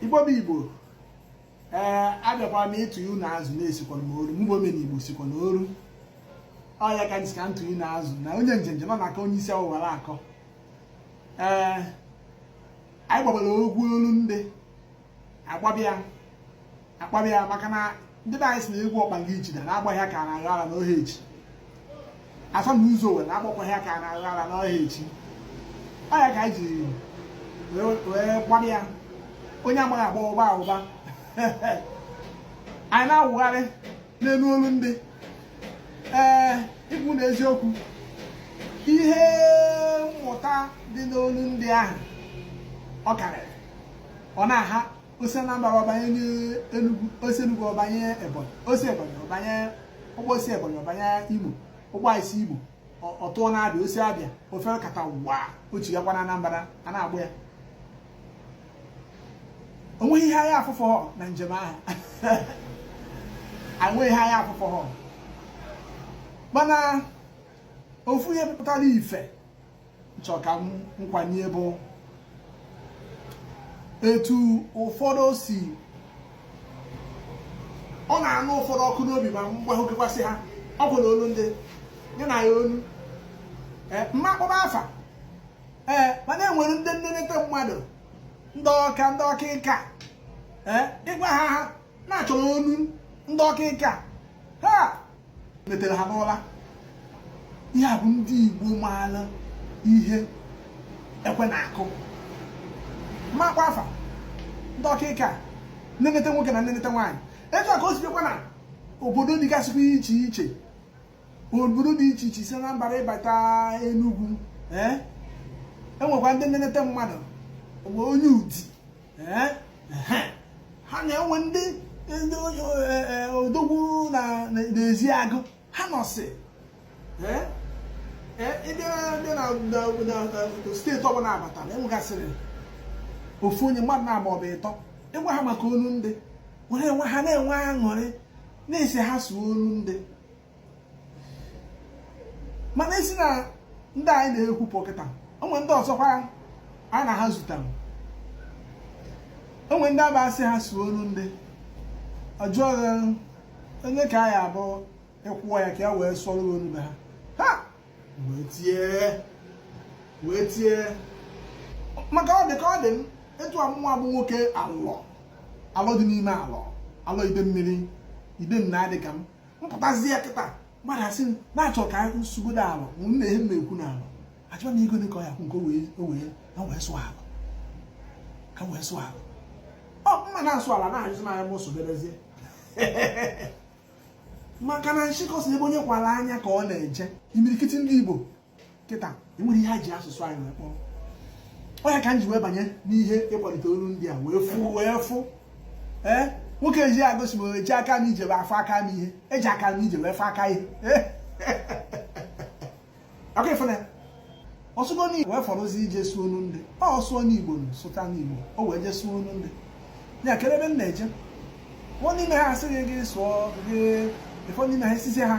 igbo bụ igbo ee abịakwara m ịtụ ihu na azụ na-esikwa m oru mgbe omena igbo sikwa na oru ọ ya ka m sị ka m tụ ihu na azụ na onye njenje nọ na-aka onye isi awọ wara akọ ee anyị gbabara egwu olu ndị agbabịa agbabịa maka na ndị be anyị si na egwu ọkpa gị jide na-agbaghị aka na-aghọ ara n'ohe echi afọ na ụzọ were agbakwaghị aka na-aghọ ara n'ohe echi ọ ya ka anyị ji wee gbara ya onye amaghị agba wụba wụba anyị na-awụgharị n'elu olu ndị ee ikwu nụ eziokwu ihe mmụta dị n'olu ndị ahụ ọ karịrị ọ na-aha o si Anambra ọ banye n'Enugu o si Enugu ọ banye Ebonyi o si Ebonyi ọ banye ụgbọ o si Ebonyi ọ banye Imo ụgbọ esi Imo ọ tụọ n'Abịa o si Abịa o fekatawa o chighakwa na Anambra a na-agba ya onweghị ihe anyị afụhọ na njem ahụ onweghị ihe anyị afụhọ mana ofu ihe pụtara ife chọrọ ka m kwanye bụ etu ụfọdụ si ọ na-anụ ụfọdụ ọkụ n'obi ma mgbahụkekwasị ha okwu na olu ndị nye na ya olu eh, m ma akpọba afa ee eh, mana enwere ndị nnenete mmadụ ndị ọka ndị ọka ịka eh, ị gwa ha ha na a chọrọ olu ndị ọka ịka ha metere ha n'ụra ihe a bụ ndị Igbo maara ihe ekwe na-akụ makwa afa ndị ọkaịka nnenete nwoke na nnenete nwaanyị etu a ka o si bịakwa na obodo dịgasịkwa iche iche obodo dị iche iche si na Anambra ị bata Enugu enwekwa ndị nnenete mmadụ onye Udi ha na-enwe ndị ndị e, e, odogwu na Ezeagụ ha nọsị ndị na steeti ọbụla a batara enwegasịrị ofu onye mmadụ naabọ ọbụ ịtọ ị gwa ha maka olu ndị were enwe ha na-enwe aṅụrị na a sị ha sụọ olu ndị mana esi na ndị anyị na-ekwupụ kịta o nwe ndị ọzọkwa anyị na ha zutara o nwe ndị ọ bụ a sị ha sụọ olu ndị ọ jụọ onye ka anyị abụ ị kwụọ ya ka ya wee sụọrọ olu be ha ha wee tie wee tie maka ọ dị ka ọ dị m etu mụwa bụ nwoke Alọ Alọ dị n'ime Alọ Alọ Idemmiri ide nna dị ka m mpụtazi ya kịta mmadụ asị na-achọ ka m sụgide ala na ihe m na-ekwu n'ala achọba m ego ka ọ ya kwụ nke o wee na wee sụọ ala ka wee sụọ ala ma m na-asụ ala na-ajụzi m anya m soberezie maka na nshịkọ sị ebe onye kwara anya ka ọ na-eje imirikiti ndị Igbo kịta enwere ihe a ji asụsụ anyị wee kpọọ ọ ya ka m ji wee banye n'ihe ịkwalite olu ndị a wee fụ wee fụ ee nwoke eji agosi m eji aka m ije wee afọ aka m ihe eji aka m ije wee fọ aka ihe ọkụ ị fụ na ọ sụgo n'igbo wee fọrọzi ije sụọ olu ndị ọ sụọ n'igbo sụta n'igbo o wee jee sụọ olu ndị ya kere ebe m na-eje nwa n'ime ha asịghị gị sụọ gị ụfọdụ n'ime ha a sịzi ha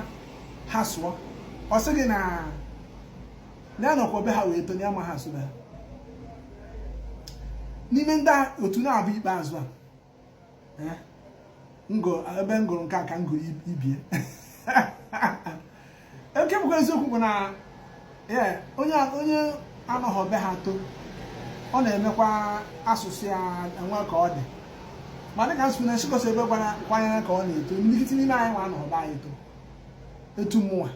ha sụọ ọ sị gị na ya anọkwa be ha wee to na ya amaha asụ be ha n'ime ndị otu na-abụ ikpeazụ a eh, ebe m gụrụ nke a ka m gụrụ ibe ya nke bụkwa eziokwu bụ na ee onye onye anọghị be ha to ọ na-emekwa asụsụ ya enwe ka ọ dị ma dịka m sụ na nshịkọ sị ebe gwara kwanyere ka ọ na-eto imirikiti n'ime anyị nwa anọghị be anyị to etu mụnwa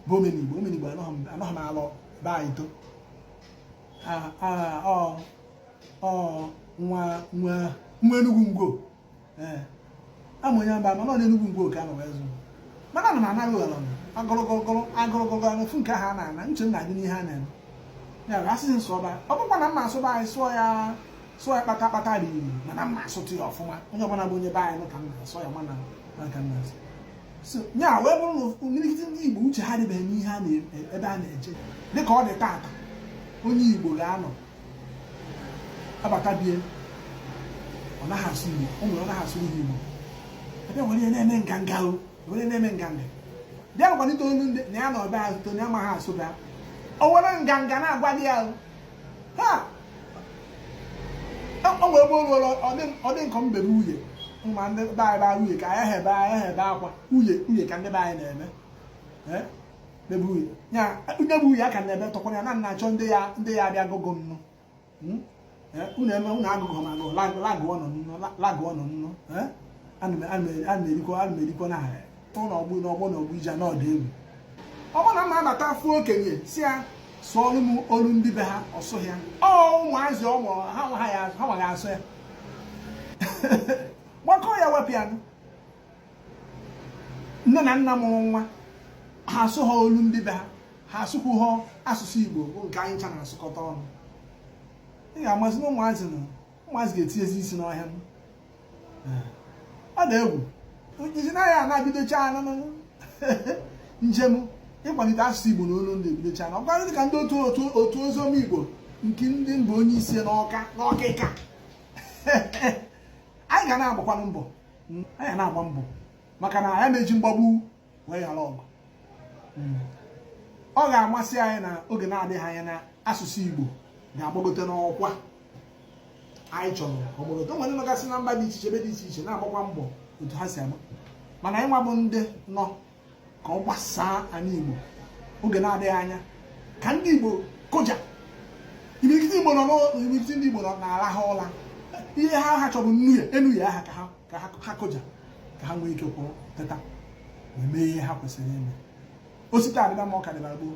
bụ omenigbo omenigbo anọghị m alọ be anyị to ọ nwa nwa nwa Enugwu Ngwo ee ama onye mba mana ọ n'Enugwu Ngwo ka a nọ wee zụọ m mana na m anaghị ụghara agụrụgụrụgụrụ agụrụgụrụ anụ fụ nke ha na-ana uche m na-adị n'ihe a na-eme ya bụ asịsị m sụba ọ bụkwa na m ma asụ be anyị sụọ ya sụọ ya kpata kpata dị iri mana m ma asụtụ ya ọfụma onye ọbụla bụ onye be anyị ka m na-asụ ya mana ka m na-asụ ya wee bụrụ na imirikiti ndị Igbo uche ha dịbeghị n'ihe a na ebe a na-eje dịka ọ dị taata onye Igbo ga-anọ abata be ya ọ naghị asụ Igbo o nwere ọ naghị asụ ihe Igbo a bịa were ya na-eme nganga o were na-eme nganga bịa kwalite olu ndị na ya na ọbịa azụto na ya amaghị asụ be ya o were nganga na-agwa gị ya ha o nwere ebe o ru ọ dị m ka m bebe uye ma ndị be anyị baa uye ka anyị hebe anyị hebe akwa uye uye ka ndị be anyị na-eme nye bụ uyi aka na ebe tọkwara ya na nna achọ ndị ya ndị ya abịa gogo nnụ hmm? eh, unu eme unu agụgụ ma agụ lagụ ọnụ nnụ lagụ ọnụ nnụ eh? ana m erikọ ana m erikọ na ahịa ụlọ ọgbụ na ọgbọ na ọgbụ ije na ọdụ egwu ọ bụrụ na m nata fụ okenye sị ya sụọrụ m olu ndị be ha ọ sụọ ya ọ ụmụazị ọ mụrụ ha amaghị asụ ya bekee ewepụ ya nne na nna mụrụ nwa ha asụ ha olu ndị be ha ha asụkwu ha asụsụ igbo bụ nke anyị ncha na-asụkọta ọnụ ị ga-amazi na ụmụazị na ụmụazị ga-etinyezi isi n'ọhịa ọ dị egwu iji na anyị na-ebidocha njem ịkwalite asụsụ igbo na olu ndị ebidocha na ọkwa dịka ndị otu otu otu oziọma igbo nke ndị mba onye isi n'ọka n'ọkịka anyị ga na-agbakwanụ mbọ hmm, anyị na-agba mbọ maka na anyị na-eji mgbagbu wee ghara ọgụ hmm. ọ ga-amasị anyị na oge na-adịghị anya na asụsụ Igbo ga-agbagote n'ọkwa anyị chọrọ ọ gbagote o nwere nọgasị na mba dị iche iche ebe dị iche iche na-agbakwa mbọ otu ha si agba mana anyị nwa bụ ndị nọ ka ọ gbasaa anị Igbo oge na-adịghị anya ka ndị Igbo kụja imirikiti Igbo nọ n'imirikiti ndị Igbo nọ na-arahụ ụla ihe ha ha chọrọ nnu ya enu ya aha ka ha kụja ka ha nwee ike kwụrụ teta wee mee ihe ha kwesịrị ime osita dịba mma ọ ka dịbara gboo